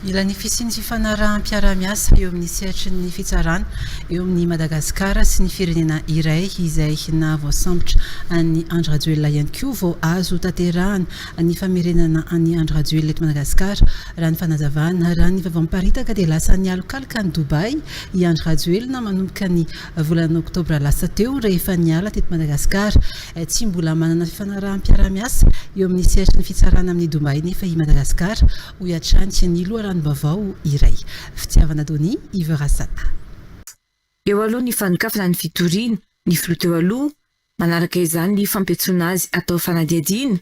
Mila ny fisian'ny fifanaraham-piarahamiasa eo amin'ny sehatry ny fitsarana eo amin'i Madagasikara sy ny firenena iray izay nahavoasambotra an'i Andry Rajoelina ihany koa vao azo tanterahana ny famerenana an'i Andry Rajoelina eto Madagasikara raha ny fanazavana raha ny vaovao miparitaka dia lasa nialokaloka any Dubaï i Andry Rajoelina manomboka ny Volana oktobra lasa teo, rehefa niala teto Madagasikara. Tsy mbola manana fifanaraham-piarahamiasa eo amin'ny sehatry ny fitsarana amin'i Dubaï nefa i Madagasikara, hoy hatrany ny loharanom-baovao iray. Fitiavana Donny, Yves Rasata. Eo aloha ny fanokafana ny fitoriana, ny filoha teo aloha, manaraka izany ny fampiantsoana azy hatao fanadihadiana,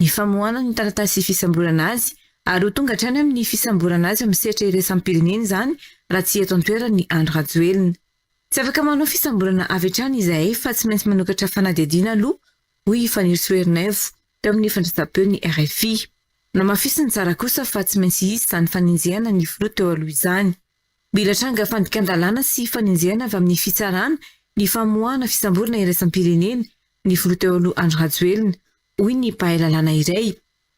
ny famoahana ny taratasy fisamborana azy ary ho tonga hatrany amin'ny fisamborana azy amin'ny sehatra iraisam-pirenena izany raha tsy eto an-toerana i Andry Rajoelina. Tsy afaka manao fisamborana avy hatrany izahay fa tsy maintsy manokatra fanadihadiana aloha, hoy i Fanirisoa Ernaivo, teo amin'ny fandraisam-peon'ny rfi. Namafisiny tsara kosa fa tsy maintsy hisy izany fanenjehana ny filoha teo aloha izany. Mila tranga fandikan-dalàna sy fanenjehana avy amin'ny fitsarana ny famoahana fisamborana iraisam-pirenena ny filoha teo aloha Andry Rajoelina, hoy ny mpahay lalàna iray.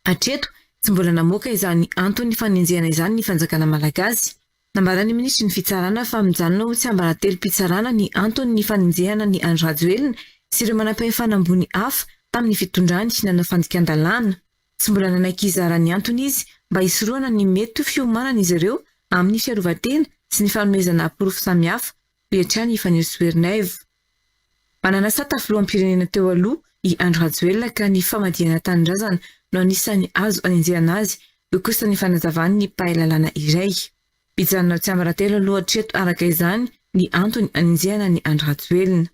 Hatreto, tsy mbola namoaka izany anton'ny fanenjehana izany ny fanjakana malagasy. Nambaran'ny minisitry ny Fitsarana fa mijanona ho tsiambaratelom-pitsarana ny anton'ny fanenjehana an'i Andry Rajoelina sy ireo manampahefana ambony hafa tamin'ny fitondrany nanao fandikan-dalàna. Tsy mbola nanaiky hizara ny antony izy mba hisorohana ny mety ho fiomanan'izy ireo amin'ny fiarovan-tena sy ny fanomezana porofo samihafa, hoy hatrany i Fanirisoa Ernaivo. Mananasata filoham-pirenena teo aloha i Andry Rajoelina ka ny famadihana tanindrazana no anisan'ny azo anenjehana azy, hoy kosa ny fanazavan'ny mpahay lalàna iray. Mijanona ho tsiambaratelo aloha hatreto araka izany ny antony anenjehana an'i Andry Rajoelina.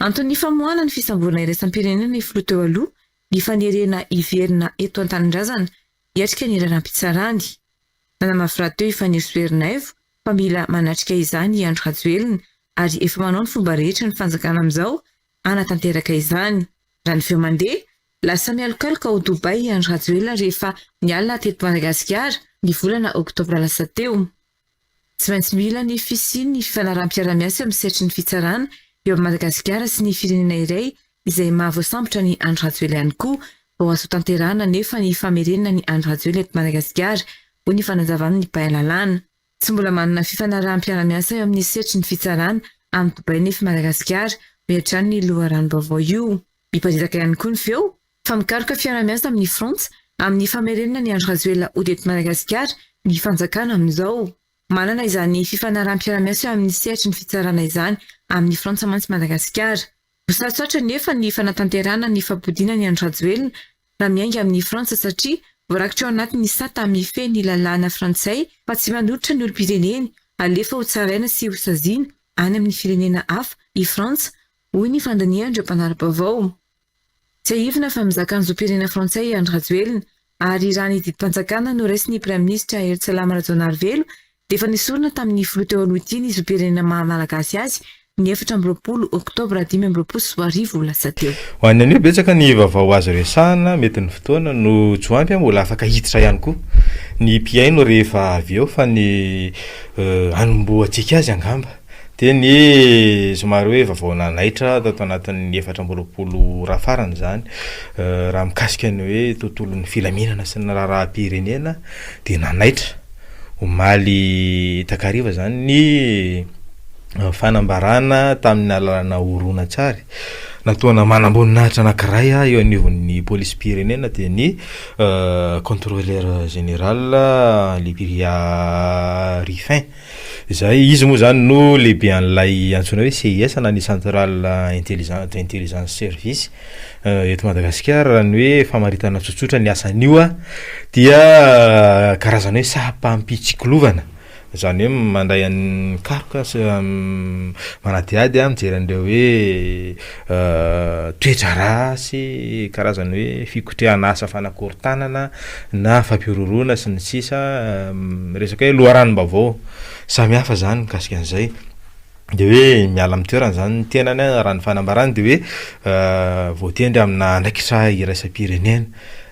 Anton'ny famoahana ny fisamborana iraisam-pirenena ny filoha teo aloha ny fanerena hiverina eto an-tanindrazana hiatrika ny raharaham-pitsarany. Nanamafy rahateo i Fanirisoa Ernaivo fa mila manatrika izany i Andry Rajoelina ary efa manao ny fomba rehetra ny fanjakana amin'izao hanatanteraka izany. Raha ny feo mandeha, lasa mialokaloka ao Dubaï i Andry Rajoelina rehefa niala teto Madagasikara ny volana oktobra lasa teo. Tsy maintsy mila ny fisian'ny fifanaraham-piarahamiasa amin'ny sehatry ny fitsarana eo amin'i Madagasikara sy ny firenena iray izay mahavoasambotra an'i Andry Rajoelina ihany koa vao azo tanterahana anefa ny famerenana an'i Andry Rajoelina eto Madagasikara, hoy ny fanazavàn'ny mpahay lalàna. Tsy mbola manana fifanaraham-piara-miasa eo amin'ny sehatry ny fitsarana any Dubai nefa i Madagasikara, hoy hatrany io loharanom-baovao io. Miparitaka ihany koa ny feo fa mikaroka fiara-miasa amin'i Frantsa amin'ny famerenana an'i Andry Rajoelina hody eto Madagasikara ny fanjakana amin'izao. Manana izany fifanaraham-piara-miasa eo amin'ny sehatry ny fitsarana izany amin'i Frantsa mantsy Madagasikara. Sarotrarotra anefa ny fanatanterahana ny fabodiana ny an'i Rajoelina raha miainga amin'i Frantsa satria voarakitra ao anatin'ny sata hamifehy ny lalàna frantsay fa tsy manolotra ny olom-pireneny halefa ho tsaraina sy ho saziana any amin'ny firenena hafa i Frantsa hoy ny fandinihan'ireo mpanara-baovao. Tsiahivina fa mizaka ny zom-pirenena frantsay i Andry Rajoelina Ary raha ny didim-panjakana noraisin'ny Praiminisitra Hery Tsalama Rajaonarivelo dia efa nesorina tamin'ny Filoha teo aloha ity ny zom-pirenena maha Malagasy azy ny efatra amby roapolo oktobra dimy amby roapolo sy roa arivo lasa teo. Ho an'ny anio, betsaka ny vaovao azo resahana, mety ny fotoana no tsy ho ampy, mbola afaka hiditra ihany koa ny mpihaino rehefa avy eo fa ny hanombohantsika azy angamba. Dia ny somary hoe vaovao nanaitra tato anatin'ny efatra amby roapolo ora farany izany, raha mikasika ny hoe tontolon'ny filaminana sy ny raharaham-pirenena dia nanaitra omaly takariva izany ny fanambarana tamin'ny alalana horonantsary nataona manamboninahitra anankiray eo anivon'ny polisim-pirenena dia ny contrôleur général Lybiria Ruffin. Izay, izy moa izany no lehibe an'ilay antsoina hoe CIS na ny Central Intelligence de Intelligence Service eto Madagasikara raha ny hoe famaritana tsotsotra ny asan'io a dia karazana hoe saham-pampitsikilovana izany hoe mandray an'ny karoka sy manadihady mijery an'ireo hoe toe-draharaha sy karazany hoe fikotrehana asa fanakorontanana na fampihorohoroana sy ny sisa resaka hoe loharanom-baovao samihafa izany mikasika an'izay dia hoe miala amin'ny toerana izany ny tenany raha ny fanambarany dia hoe voatendry amina andraikitra iraisam-pirenena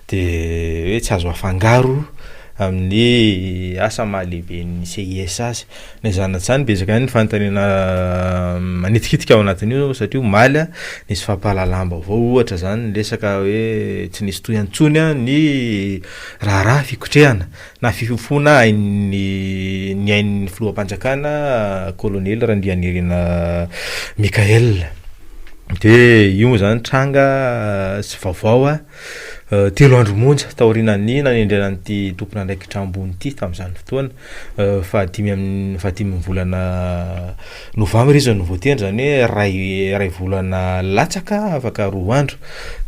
dia hoe tsy azo afangaro amin'ny asa maha lehiben'ny CISAS. Na izany na izany, betsaka ihany ny fanontaniana manitikitika ao anatin'io satria omaly nisy fampahalalam-baovao ohatra izany niresaka hoe tsy nisy toy intsony ny raharaha fikotrehana na fifofoana ain'ny ny ain'ny filoham-panjakana kolonely Randrianirina Michaël. Dia io moa izany tranga sy vaovao telo andro monja taorianan'ny nanendrena an'ity tompon'andraikitra ambony ity tamin'izany fotoana. Fahadimy amin'ny fahadimy ny volana novambra izy no voatendry, izany hoe iray iray volana latsaka afaka roa andro,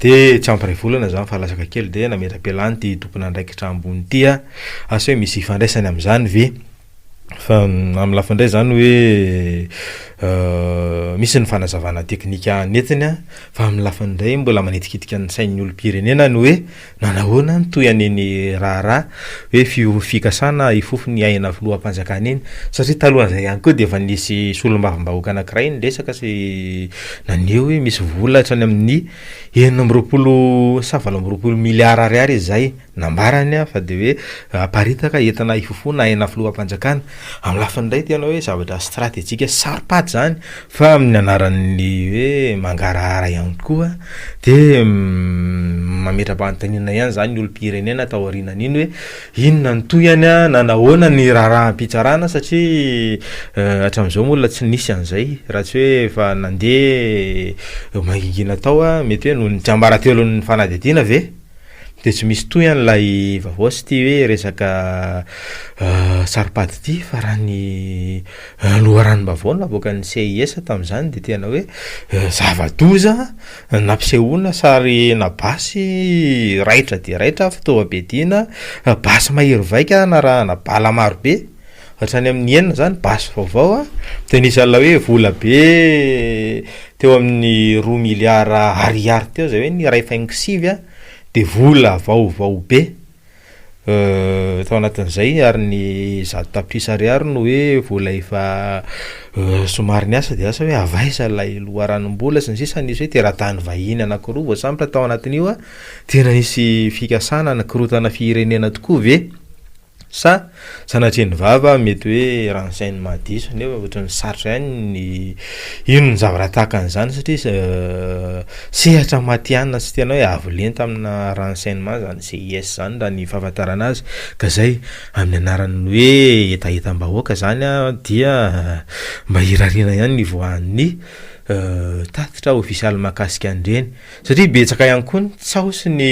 dia tsy ampy iray volana izany fa latsaka kely dia nametra-pialany ity tompon'andraikitra ambony ity aho, asa hoe misy ifandraisany amin'izany ve? Fa amin'ny lafiny indray izany hoe misy ny fanazavana teknika nentiny an, fa amin'ny lafiny indray mbola manitikitika ny sain'ny olom-pirenena ny hoe. Manahoana no toy an'iny raharaha hoe fiovy fikasana ifofony aina filoham-panjakana iny? Satria talohan'izay ihany koa dia efa nisy solombavambahoaka anankiray niresaka sy naneho hoe misy vola hatrany amin'ny enina amby roapolo sa valo amby roapolo miliara ariary izy izay nambarany fa dia hoe haparitaka entina hifofoana aina filoham-panjakana. Amin'ny lafiny iray tena hoe zavatra stratejika sy saropady izany Fa amin'ny anaran'ny hoe mangarahara ihany koa dia mametra-panontaniana ihany izany ny olom-pirenena taorianan'iny hoe inona no tohiny na nahoana ny raharaham-pitsarana satria hatramin'izao moa mbola tsy nisy an'izay raha tsy hoe efa nandeha mangingina tao mety hoe noho ny tsiambaratelon'ny fanadihadiana ve dia tsy misy tohiny ilay vaovao sy ity hoe resaka saro-pady ity fa raha ny Ny loharanom-baovao navoakan'ny CIS tamin'izany dia tena hoe zava-doza nampisehoana sarina basy raitra dia raitra fitaovam-piadiana, basy mahery vaika narahana bala marobe, hatrany amin'ny enina izany basy vaovao dia nisy an'ilay hoe vola be teo amin'ny roa miliara ariary teo izay hoe ny iray faingo sivy dia vola vaovao be. Tao anatin'izay ary ny zato tapitrisa ariary no hoe vola efa somary niasa dia lasa hoe avy aiza ilay loharanom-bola sy ny sisa nisy hoe teratany vahiny anankiroa voasambotra tao anatin'io a, tena nisy fikasana nikorontana firenena tokoa ve sa Sanatria ny vava mety hoe ran'izay no mahadiso nefa ohatran'ny sarotra ihany ny hino ny zavatra tahaka an'izany satria sehatra matihanina sy tena hoe avo lenta amina renseignement zany CIS zany raha ny fahafantarana azy ka zay amin'ny anaran'ny hoe hetahetam-bahoaka zany a dia mba irariana ihany ny voan'ny tatitra ofisialy mahakasika an'ireny Satria betsaka ihany koa ny tsaho sy ny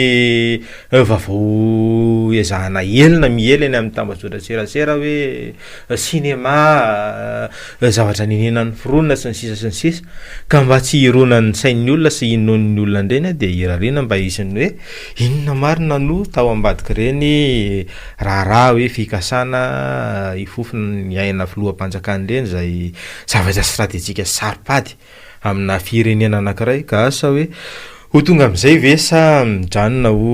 vavao ezahana ela na miely eny amin'ny tambajotran-tserasera hoe cinema, zavatra nenenan'ny foronina sy ny sisa sy ny sisa ka mba tsy hironan'ny sain'ny olona sy hinoan'ny olona indray ny dia irariana mba hisy ny hoe inona marina no tao ambadik'ireny raharaha hoe fikasana hifofona ny aina filoham-panjakana ireny izay zavatra stratejika sy saro-pady. amina firenena anankiray ka asa hoe ho tonga amin'izay ve sa mijanona ho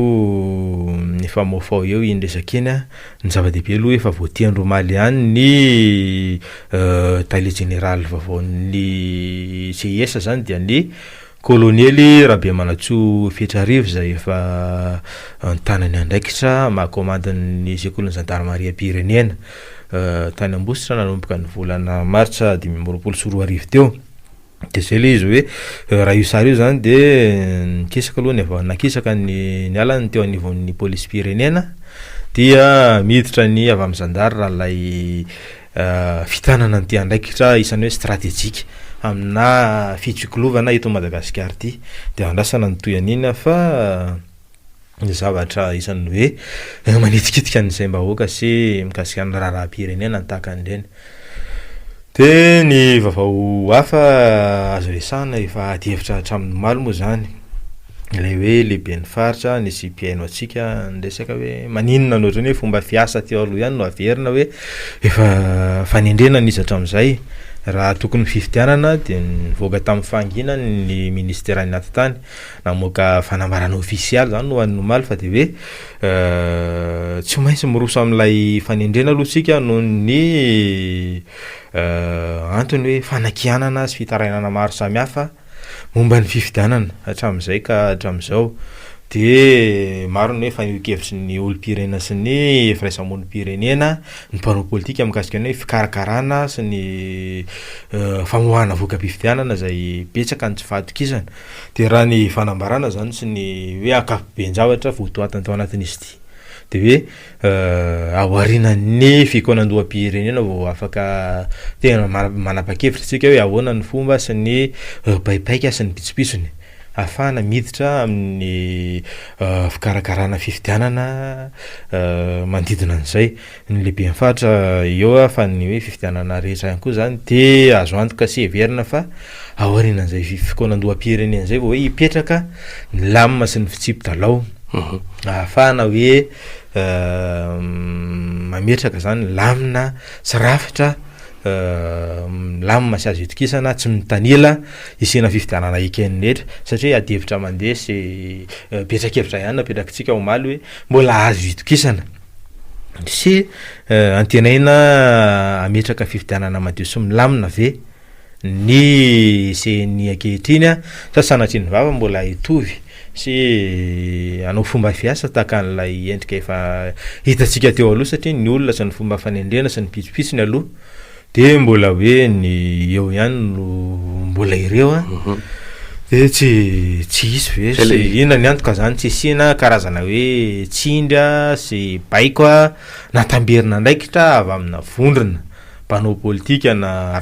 mifamofaho eo iny resaka iny an, ny zava-dehibe aloha efa voatendry omaly ihany ny tale jeneraly vaovaon'ny CIS izany dia ny kolonely Rabemanantsoa Fetrarivo izay efa an-tanan'ny andraikitra maha komandin'ny sekolin'ny zandarimariam-pirenena. tany Ambositra nanomboka ny volana martsa dimy amby roapolo sy roa arivo teo. Dia izay ilay izy hoe eh, raha io sary io izany dia eh, nikisaka aloha ny avy nakisaka ny niala ny teo anivon'ny polisim-pirenena dia miditra ny avy amin'ny zandary raha ilay eh, fitanana an'ity andraikitra isan'ny hoe stratejika aminà fitsiklovana eto Madagasikara ity. Dia andrasana ny toy an'iny fa zavatra isan'ny hoe eh, manitikitika an'izay mbahoaka sy mikasika ny raharaham-pirenena tahaka an'ireny. Dia ny vaovao hafa azo resahana efa adihevitra hatramin'ny omaly moa izany, ilay hoe lehiben'ny faritra nisy mpihaino antsika niresaka hoe maninona no ohatran'ny hoe fomba fiasa teo aloha ihany no averina hoe efa fanendrena nisy hatramin'izay, raha tokony fifidianana dia nivoaka tamin'ny fahanginany ny ministeran'ny atitany, Namoaka fanambarana ofisialy izany ho an'ny omaly fa dia hoe tsy maintsy miroso amin'ilay fanendrena aloha isika noho ny antony hoe fanakianana sy fitarainana maro samihafa momba ny fifidianana hatramin'izay ka hatramin'izao. Dia maro ny hoe fanehoan-kevitry ny olom-pirenena sy ny firaisamonim-pirenena ny mpanao politika mikasika ny hoe fikarakarana sy ny famoahana voka-pifidianana izay betsaka ny tsy fahatokisana. Dia raha ny fanambarana izany sy ny hoe ankapoben-javatra votoatiny tao anatin'izy ity dia hoe ao aorianan'ny fikaonandoham-pirenena vao afaka tena manapa-kevitra isika hoe ahoana ny fomba sy ny baibaika sy ny pitsopitsony ahafahana miditra amin'ny fikarakarana fifidianana manodidina an'izay. ny lehiben'ny faritra eo fa ny hoe fifidianana rehetra ihany koa zany de azo antoka sy heverina fa aorianan'izay fikoanandoham-pirenena zay vao hoe hipetraka ny lamina sy ny fitsipi-dalao ahafahana hoe mametraka zany lamina sy rafitra milamina sy azo itokisana tsy mitanila hisiana fifidianana eken'ny rehetra satria adihevitra mandeha sy betrakevitra ihany napetrakintsika omaly hoe mbola azo itokisana Sy antenaina hametraka fifidianana madio sy milamina ve ny ceni ankehitriny sa sanatria ny vava mbola hitovy sy hanao fomba fiasa tahaka an'ilay endrika efa hitantsika teo aloha satria ny olona sy ny fomba fanendrena sy ny pitsopitsony aloha de mbola hoe ny eo ihany no mbola ireo a mhm. de tsy tsy hisy ve sy inona ny antoka zany tsy hisiana karazana hoe tsindry a sy baiko a natamberina andraikitra avy amina vondrona mpanao politika na